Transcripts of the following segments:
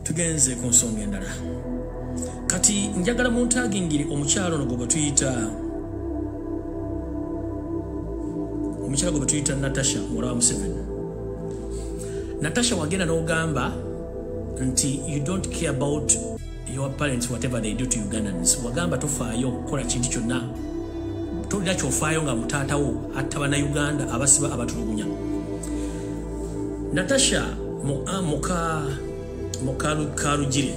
tugenze ku nsonga endala kati njagala muntagingire omukyalo no gwebwe tuyita omukyalo gwebwe tuyita natasha muwala wa museveni natasha wagenda n'ogamba nti you don't care about your parents whatever they do to ugandans wagamba tofaayo okukola kintu kyonna tolina kyofaayo nga mutaatawo atta banauganda abasiba abatulugunya natasha mukalugire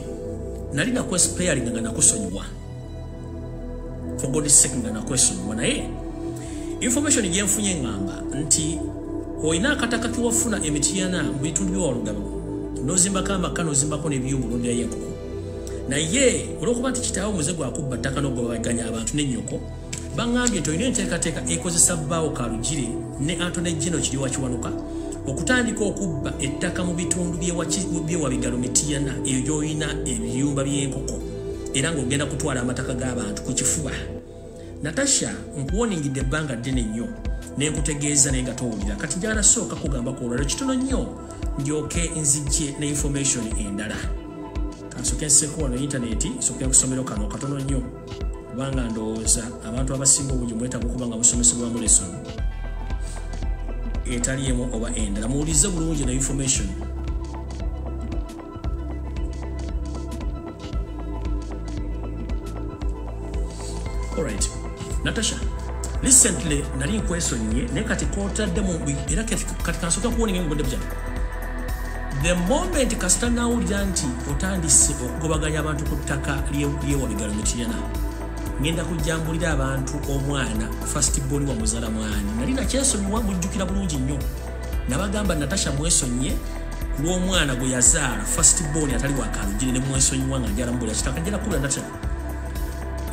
nali nakwesipeyalinga nga nakusonyiwa for god sake nga nakwesonyiwa naye information gyenfunye ngamba nti olina akataka kewafuna emitiyana mu bitundu byewalugaba nozimbako amaka nozimbako nebyuma olondirayo enkoko naye olwokuba nti kitaawo muze gwakubba ttaka nogobaganya abantu nenyoko baŋambye nti olina enteekateeka ekozesa bbaawo kalugire ne antone geno kiri wakiwanuka okutandika okubba ettaka mu bitundu byewabigalo mitiyana eyo gyolina ebiyumba byenkoko era ng'ogenda kutwala amataka g'abantu ku kifuba natasha nkuwoningidde ebbanga ddene nnyo nenkutegeeza naye nga towulira kati njagala sooka kugamba ku olwaliro kitono nnyo ndyoke nzijje ne information endala kansoke nseko wano intaneti nsoke kusomero kano katono nnyo kubanga ndowooza abantu abasinga obungi mwetaga okuba nga musomesebwamu lesson etali emu oba endala muwulize bulungi na information Alright. Natasha, recently nali nkwesonyiye naye kati kotadde mu era kati kansooka kuwona engeri mubudde bujana the moment kasita nawulira nti otandise okugobaganya abantu ku ttaka lyewabigalo mukiyana ngenda kujjambulira abantu omwana fast boni wamuzala mwani nali nakyesonyiwa mujjukira bulungi nnyo nabagamba natasha mwesonyiye lw'omwana gwe yazaala first born atali wakalugire ne mwesonyiwa nga njala mubuli akitaka njala kubula natasha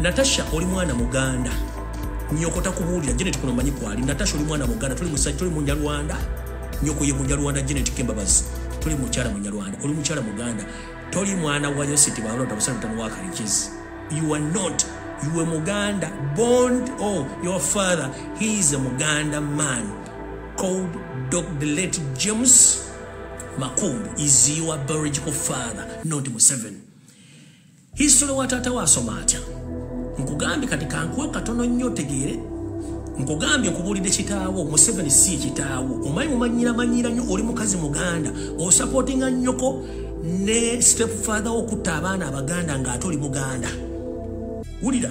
natasha oli mwana muganda nyoko takubuulira janet kuno manyi kwali natasha oli mwana muganda tuli musajja tuli munyarwanda nyoko ye munyarwanda janet kembabazi tuli mukyala munyarwanda oli mukyala muganda toli mwana wa yositi balota busalutano wakalikizi you are not you were muganda bond oh your father he is a muganda man called Dog the late James Makumbu is your biological father, not Museveni. History wa tata wa asoma atya? Nkugambye kati kankuwe katono nnyo otegeere. Nkugambye nkubulidde kitaawo Museveni si kitaawo. Omanyi mumanyira manyira nnyo oli mukazi muganda osupportinga nnyoko ne step father okutta abaana abaganda ng'ate oli muganda. Wulira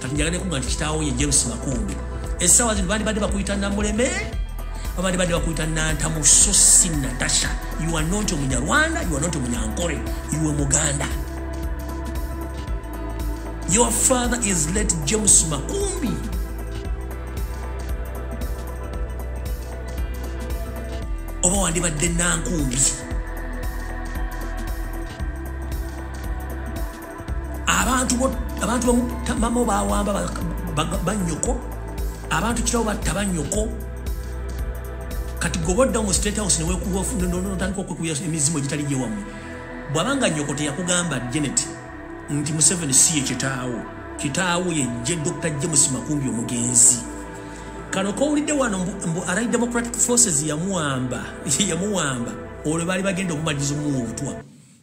kati njagala nekuga nti kitaawo ye james makumbi essaawa zino bandibadde bakuyita namuleme babandibadde bakuyita nantamu so si natasha you are not omunyarwanda you are not omunyankore iwe muganda your father is let james makumbi oba wandibadde nankumbi abantu abantu bamu mama bawamba banyoko abantu kirawo batta banyoko kati goba odda mu state house newekubaotandika okwekuya emizimu egitali gyewammwe bwabanga nyoko teyakugamba janet nti museveni si ye kitaawo kitaawo yejje dr james makumbi omugenzi kano kowulidde wano mbu arai democratic forces yamuwamba yamuwamba olwo baali bagenda omumaliriza omuwa obutwa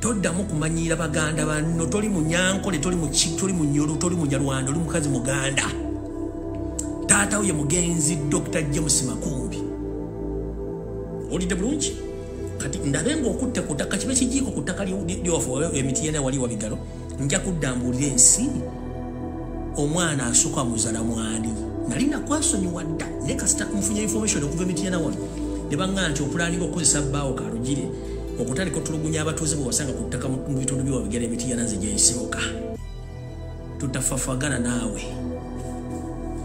toddamu kumanyiira baganda banno toli munyankole toli muki toli munyolo toli munyarwanda oli mukazi muganda taata wo ye mugenzi dr james makumbi olidde bulungi kati ndabe ngaokutte ku ttaka kibe kijiiko ku ttaka lyewaffe emiti yena wali wabigalo nja kudda mbuulira ensi omwana asooka muzala mwani nali nakwasonyiwa dda naye kasita nfunye information okuva emityana wano ne baŋŋaa nti okulaaninga okukozesa bbaawo kalugire okutandika otulugunya abatuuze bwe wasanga ku ttaka mu bitundu byewabigera emityana nze gyesibuka tutafafagana naawe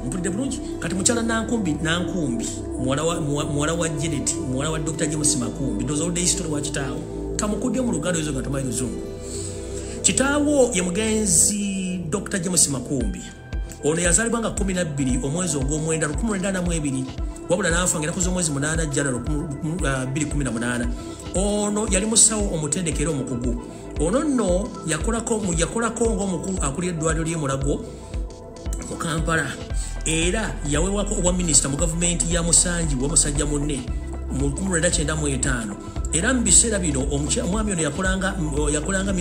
mpulidde bulungi kati mukyala nankumbi nankumbi muwala wa jeneti muwala wa dr james makumbi dozoludde histori wakitaawo kamukudde mu luganda ezo nga tomanyi luzungu kitaawo ye mugenzi dr james makumbi ono yazalibwa nga 12 omwezi ogwomwenda 1942 wabula naafa nga enakuza omwezi 8 jana 218 ono yali musawo omutendekera omukugu ono nno yakolako ngaomukulu akulira eddwaliro lyemulago mu kampala era yawewako obwa minisita mu gavumenti ya musanji wa musajja munne mu 1995 era mu biseera bino omwami ono yakolanga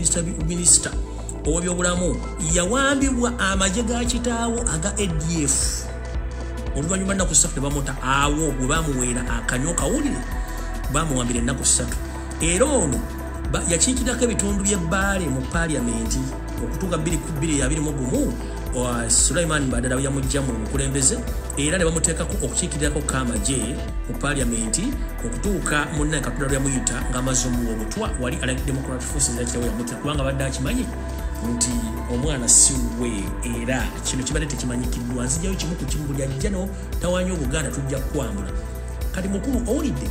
minisita owebyobulamu yawambibwa amagye ga kitaawo aga adf oluvannyuma nnaku ssatu ne bamuta awo bwe bamuweera akanywa kawulire bamuwambira ennaku ssatu era ono yakiikirako ebitundu by'ebbaale mu paaliyamenti okutuuka 2221 sulaiman badala yamujja mu bukulembeze era ne bamuteekako okukiikirirako kamaje mu paaliyamenti okutuuka munnaye katonda lwe yamuyita ng'amaze omuwa obutwa wali ala democratic forces yakirawo yamutya kubanga badde akimanyi nti omwana siwe era kino kibadde tekimanyikiddwa nzijayo kimu ku kimu buli ajja no tawanya obuganda tujja kukwambula kati mukulu owulidde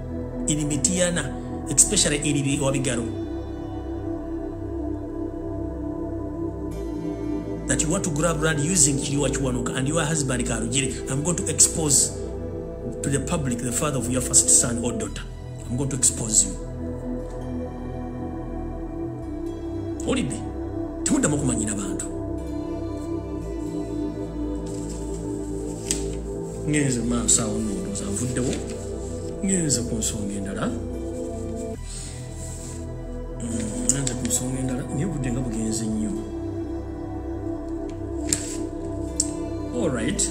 ili mitiana especially ili wabigaro that you want to grab land using kiliwa chiwanuka and your husband karujire i'm going to expose to the public the father of your first son or daughter i'm going to expose you olidde temuddamu okumanyira bantu ngenze maaso awo nondooza nvuddewo ngenze ku nsonga endala ngenze ku nsonga endala naye obudde nga bugenze nnyo allright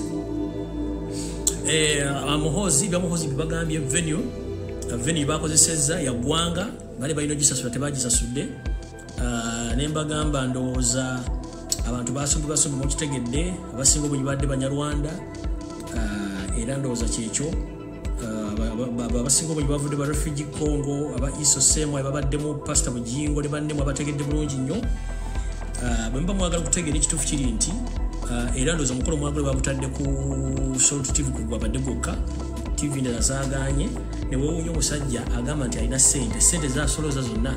eh, amuhoozi byamuhoozi bibagambye venue venue bakozesezza yagwanga bali balina ogisasula tebagisasudde ah, ne mbagamba ndowooza abantu basumbibasumbi mukitegedde abasinga obunyi badde banyarwanda ah, era ndowooza kyekyo abasinga obunyi bavudde ba refugi congo aba iso semu ababaddemu pasita bujingo ne bannemu abategedde bulungi nnyo bwe muba mwagala okutegeera ekituufu kiri nti Eh, era ndooza omukolo mwagule babutadde ku salt tv kugwabadde gwokka tv ndala zaganye newewunya omusajja agamba nti alina sente sente zasoloza zonna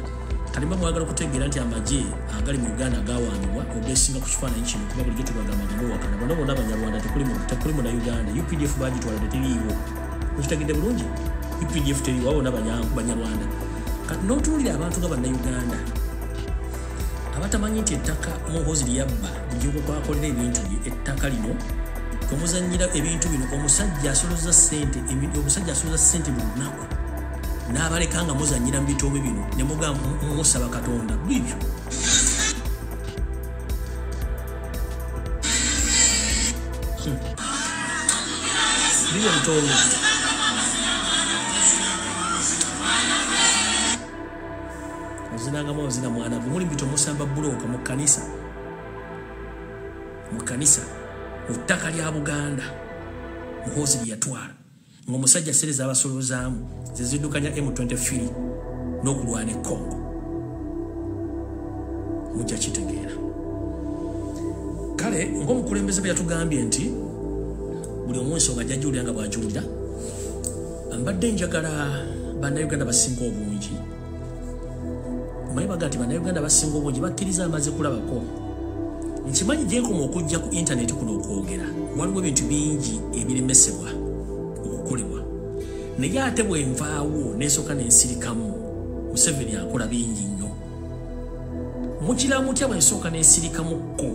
kalimba mwagala okutegeera nti amagye agali mu uganda gawaanibwa ogesinga ku kifaananyi kino kuba bulijjo tubagambagambowakana bona bona abanyarwanda tekuli mu na uganda updf bagitwala tetiriiwo okitagidde bulungi updf teriiwo abona banyarwanda kati n'otuwulira abantu nga bannauganda abatamanyi nti ettaka muhozi lyabba lyokukwakolera ebintu bye ettaka lino kwemuzanyira ebintu bino omusajja asoloza sente omusajja asoloza sente buli lunaku n'abaleka nga muzanyira mu bitoobe bino ne mugamba musaba katonda bibyo hmm. bibyo bitoobe ozinangamu ozina mwana gwe muli bito musamba bulooka mu kkanisa mu kkanisa mu ttaka lya buganda muhoozi lyeyatwala ng'omusajja sere z'abasolozaamu ze ziddukanya m23 n'okulwana e congo mujja kitegeera kale ng'omukulembeze bwe yatugambye nti buli omu ensonga jajjuulira nga bw'ajuulira mbadde njagala bannayuganda basinga obungi omanyi baga nti bannayuganda basinga obungi bakkiriza amaze kulabako nkimanyi gyenkoma okujja ku intaneti kuno okwogera waliwo ebintu bingi ebiremesebwa okukolebwa naye ate bwenvaawo nesooka nensirikamu museveni akola bingi nnyo mukira mutya bwensooka nensirikamukko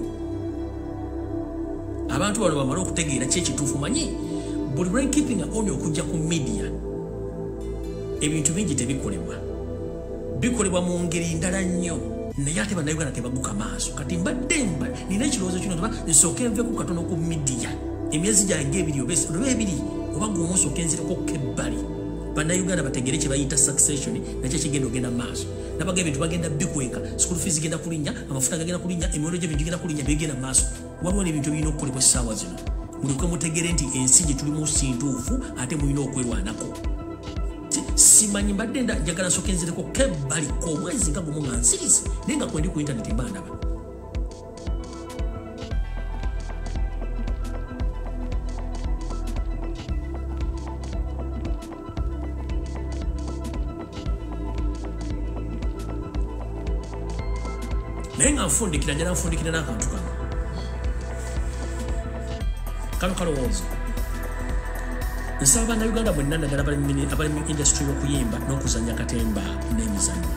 abantu bano bamale okutegeera kyekituufu manyi buli lwenkipinga oni okujja ku midiya ebintu bingi tebikolebwa bikolebwa mu ngeri ndala nnyo naye ate bannayuganda tebaguka maaso kati mbadde mba nina ekirowoozo kino nti nsooke nveku katono ku midiya emyezi gyange ebiri oba ebiri oba gumu nsooke nzireko ku ebbali bannayuganda bategere kye bayita succession nakyo kigenda ogenda maaso nabaga ebintu bagenda bikweka school fees genda kulinnya amafuta gagenda kulinnya emiwendo gy'ebintu gigenda kulinnya byegenda maaso waliwo nebintu ebirina okukolebwa essaawa zino mulekwe mutegere nti ensi gye tulimu sintuufu ate mulina okwerwanako simanyi mbadde njagala soka enzireko kebbali komwezi nga gumu nga nsirizi naye nga kwendi ku intaneti mba ndaba naye nga nfundikira njala nfundikira n'akantu kano kano kalowooza nsaba banauganda mwenna naddala abali mu industry y'okuyimba n'okuzanya katemba n'emizanyo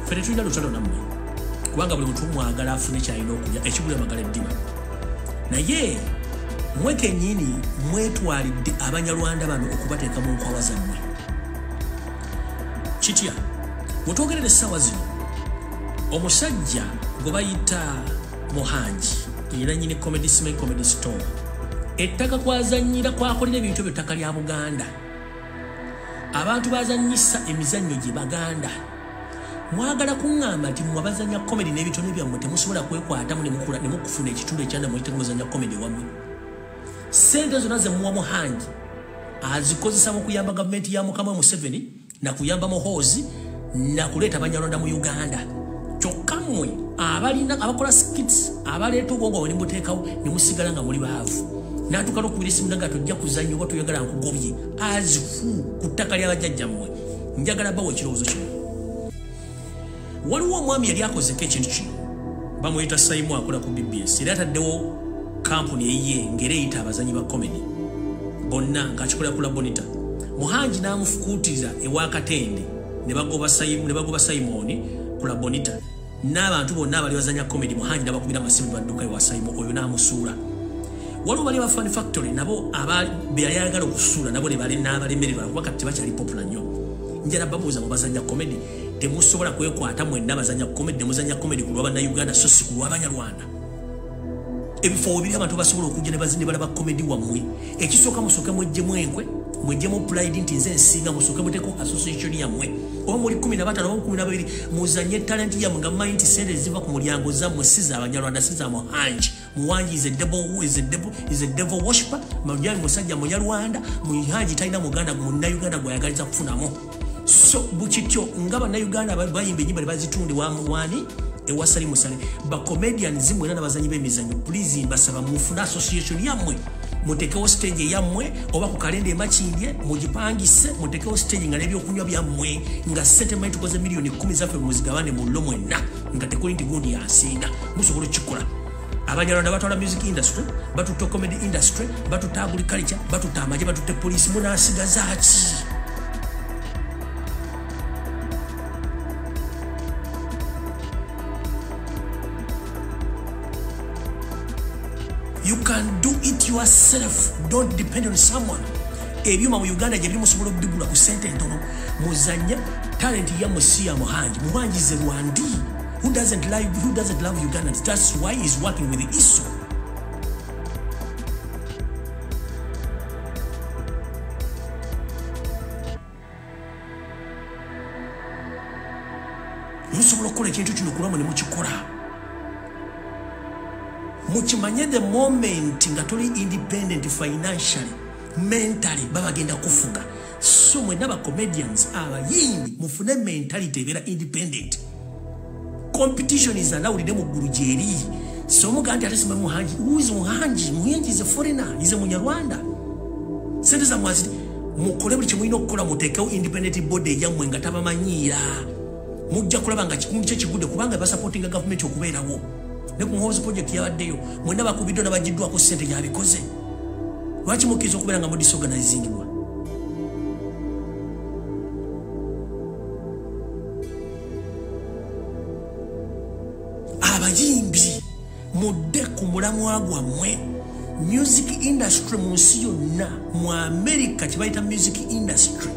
fere tulina lutalo nammwe kubanga buli muntu mwagala afune kyalina okulya ekigula magala eddiba naye mwe kenyini mwetwalidde abanyarwanda bano okubateeka mu nkwawa zammwe kitya wetwogerera essaawa zino omusajja gwe bayita muhangi era nyini comedy sma comedy store ettaka kwazanyira kwakolera ebintu ebyo ttaka lya buganda abantu bazanyisa emizannyo gye baganda mwagala kuŋŋamba nti mwe abazanya komedi n'ebitone byammwe temusobola kwekwatamu nemukula ne mukufuna ekitundu ekyanda mwe kitemuzanya komedi wammwe sente zonna ze muwa muhangi azikozesa mu kuyamba gavumenti ya mukama museveni na kuyamba muhoozi na kuleeta banyarwanda mu uganda kyokka mmwe abalina abakola skits abaleeta obwongo bwe nemuteekawo ne musigala nga muli baavu natuuka nokubira esimu nanga tojja kuzanya oba toyagala nkugobye azifu ku ttaka lyabajjajjammwe njagala bawa ekirowoozo kino waliwo omwami yali akozeko ekintu kino bamuyita saimu akola ku bbs era ataddewo kampuni eyiye ngaera eyita abazanyi ba comedy bonna ngaakikolera kula bonita muhangi n'amufukuutiriza ewakatende ne bagoba saimoni kula bonita n'abantu bonna abali bazanya comedy muhangi nabakubira amasimu nebadduka ewa saimo oyo n'amusuula waliwo bali abafan factory nabo beyali ayagala okusuula nabo nebalenaabalemererwa kuba kati tebakyali popula nnyo njala babuuza mu bazanya comedy temusobola kwekwata mwenna bazanya comedy nemuzanya comedy ku lwa bannayuganda so si ku lw'abanyarwanda ebifo webiri abantu basobola okujja ne bazini balaba komedi wammwe ekisooka musooke mwejjemu enkwe mwejjemu pulide nti nze nsinga musooke muteko association yammwe oba muli kumi nabatano oba kumi nababiri muzanye talenti yammwe nga mumanyi nti sente ziva ku mulyango zammwe si za banyarwanda si za muhanji muwanji is a devil who is a devil is a devil worshiper mujanyi musajja munyarwanda muhanji talina muganda munayuganda gwayagaliza kufunamu so bukityo nga bannayuganda bayimba enyimba nebazitunde wamuwani ewasali musale bacomedians mwena nabazanyi bemizanyo please mbasaba mufune association yammwe mutekewo stage eyammwe oba ku kalenda emakindye mugipangise mutekewo stage nga nebyokunywa byammwe nga sente manyi tukoze miliyoni kumi zaffe muzigabane mullo mwenna nga tekuli nti gundi yansinga musobola okukikola abanyarwanda batwala music industry batutte comedy industry batutte agriculture batutte amaje batutte poliisi munasigazaaki you can do it yourself don't depend on someone ebyuma mu uganda gyebiri musobola okubigula ku sente entono muzanya talenti ya musiya muhangi muhangize rwandii Who doesn't like who doesn't love Ugandans? That's why he's working with ISO. musobola okukola ekintu kino kulwamu ne mukikola mukimanye the moment nga toli independent financially mentally babagenda kufuga so mwena ba comedians abayimbi mufune mentality ebera independent competition is allowed ne muggulu gyeri so muga nti ate sima muhanji who is muhanji muhanji is a foreigner is a munyarwanda sente za mwaziti mukole buli kimulina okukola mutekewo independent body eyammwe nga tabamanyiira mujja kulaba nga kikundu kye kigudde kubanga basupportinga gavumenti okubeerawo ne ku muhoozi pulojekiti yabaddeyo mwena bakubiddwa nabagiddwako sente yabikoze lwaki mukkiriza okubeera nga mu disorganizingibwa abayimbi mudde ku mulamwa gwammwe music industry mu nsi yonna mu amerika kyebayita music industry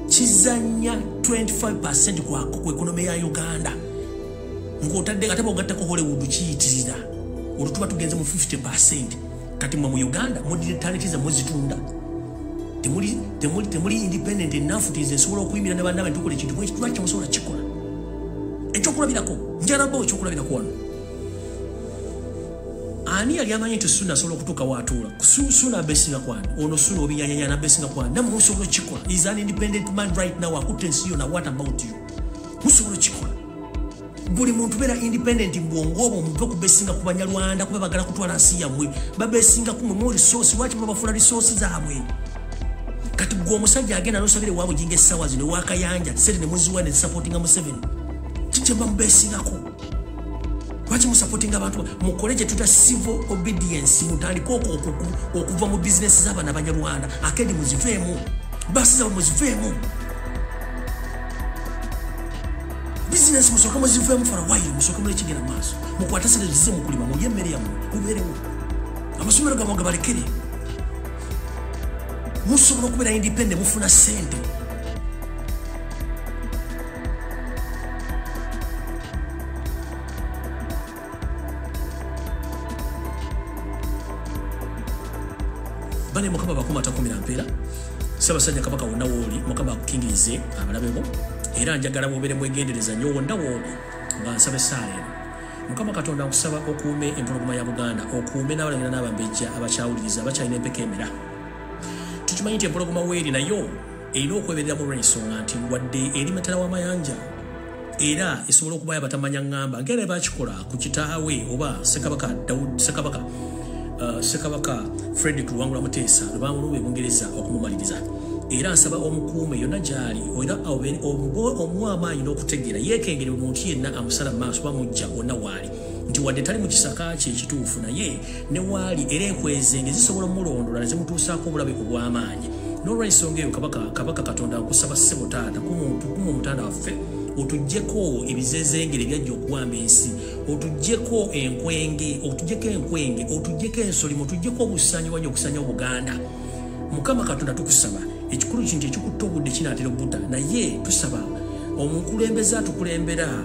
kizanya 25 ku ekonomi ya uganda ng'otadde nga taba ogattako hollywood kiyitirira olwo tuba tugenze mu 50 percent kati mwe mu uganda mudire talenti zamwe zitunda temuli temuli temuli independent enough tize sobola okuyimira ne bandabe tukole kintu mwe kitwa kyo sobola kikola ekyo kulabira ko njara bo kyo kulabira ko wano ani yali amanyi nti suna sobola okutuka watula kusu suna besinga kwani ono suna obinyanya yana besinga kwani namu musobola kikola is an independent man right now akutensiyo na what about you musobola kikola buli muntu beera independent mubwongo obwo muve okubesinga ku banyarwanda kuba bagala kutwala nsi yammwe babesinga ku mwemu resource lwaki mubafula resource zaabwe kati gwe omusajja agenda nosabire waabwe jinga essaawa zino ewakayanja sente nemuziwa nezisupportinga museveni kikyemba mubesingako lwaki musupportinga abantu mukole kyetuta civil obedience mutandike oko okuva mu bizinesi z'abaana banyarwanda akendi muziveemu basi zaabwe muziveemu bizinesi musooke muziveemu fara wayiro musooke mulekigera maaso mukwate sente zize mukulima mulye emmere yammwe mubeerewo amasomero gamwe gabalekere musobola okubeera independe mufuna sente bane mukama bakuma takumira mpeera ssabasajja kabaka wonna wooli mukama akukingirize abalabe bo era njagala bwobeere mwegendereza nyo wonna wooli nga nsaba essaala eno mukama katonda nkusaba okuume empologoma ya buganda okuume n'abalangira n'abambejja abakyawuliriza abakyalina empeka emera tukimanyi nti empologoma weeri nayo erina okweberera mu lwensonga nti wadde eri matala w'amayanja era esobola okubayo abatamanya ŋŋamba ngera ne bakikola ku kitaawe oba sekabaka daud sekabaka uh, sekabaka fredrik luwangula muteesa lwe bamulumba e bungereza okumumaliriza era nsaba omukuume yonna gyali era omuwa amaanyi n'okutegeera yeekengere omuntu yenna amusala mu maaso bamujja wonna waali nti wadde tali mu kisaka kye ekituufu naye ne waali era ekweze nge zisobola omulondola ne zimutuusaako obulabe ku bw'amaanyi n'olwensonga eyo kabaka kabaka katonda nkusaba ssebo taata kumuntu kumu omutanda waffe otugyeko ebizezengere byajja okuwamba ensi otugyeko enkwenge otugyeko enkwenge otugyeko ensolimo otugyeko obusanyi wanya okusanya obuganda mukama katonda tukusaba ekikulu kintu ekikutta obudde kinatera obudda naye tusaba omukulembeze atukulembera